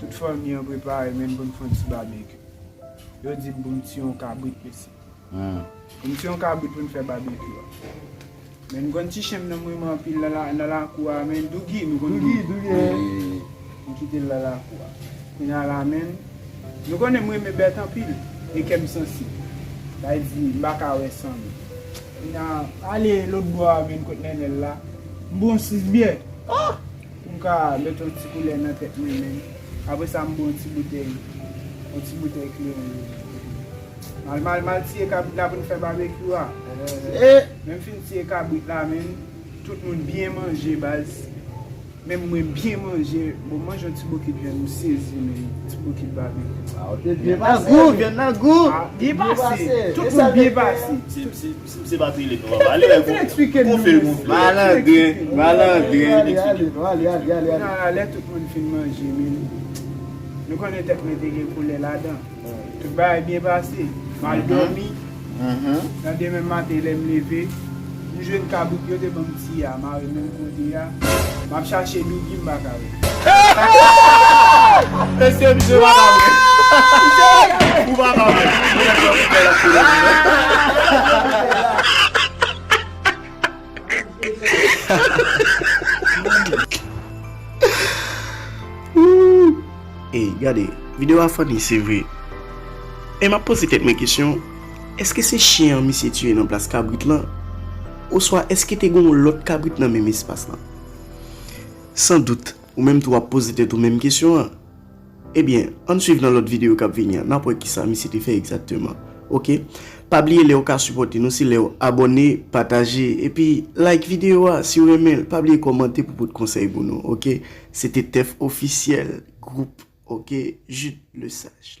Tout fanmi an prepare menm pou n fon ti babekyou. Yo di m pou m tiye yon kabrit mesi. Pou m tiye yon kabrit pou n fè babekyou a. Men m konn ti chen m nan m renmen anpil nan lakou a men Dougi, nou konn Dougi? M kite l nan lakou a. Kounye a la menm, nou konnen m renmen bèt anpil e kè m sansib. Bay di m pa ka wè san li. Kounye a, ale lotbò a vin kot Nènèl la. M pran 6 byè. Pou m ka met yon ti koulè nan tèt mwen menm. Apre sa m bwè yon ti boutèy, yon ti boutèy kleren yo. Mal mal m al tiye kabrit la pou n fè babekyou a. E! Lè m fin tiye kabrit la menm, tout moun byen manje baz. Menm mwen byen manje. Bon m manje yon ti bokit vyann m sezi menm. Yon ti bokit babekyou. Vyann nan gou, vyann nan gou. Byen pase. Tout moun byen pase. Misye pa trele non papa. Ale wè gon fey gon fey. Malandren, malandren. Ale, ale non, ale, ale, ale, ale. Nan lè tout moun fin manje menm. Nou konnen tèt mwen te gen koulè ladan. Tout bagay byen pase. M al dòmi. Nan demen maten lè m leve, m jwenn kabrit yo te ban m ti a mare menm kote a. M ap chache Dougie m pa ka wè. Mesye misye pa ka vre. Ou pa ka vre. Ey gade video a funny se vre e map poze tèt mwen kesyon eske se chyen an misye tiye nan plas kabrit lan oswa eske te gen yon lòt kabrit nan menm espas lan. San dout, ou menm tou ap poze tèt ou menm kesyon an. Ebyen, ann swiv nan lòt videyo k ap vini an, n ap wè kisa misye te fè egzakteman. Ok. Pa bliye lè ou ka sipòte nou se lè ou abòne, pataje, epi like videyo a si ou renmen l. Pa bliye kòmante pou pot konsèy pou nou. Ok. Se te Tèf Ofisyèl, gwoup, ok, Jude Lesage.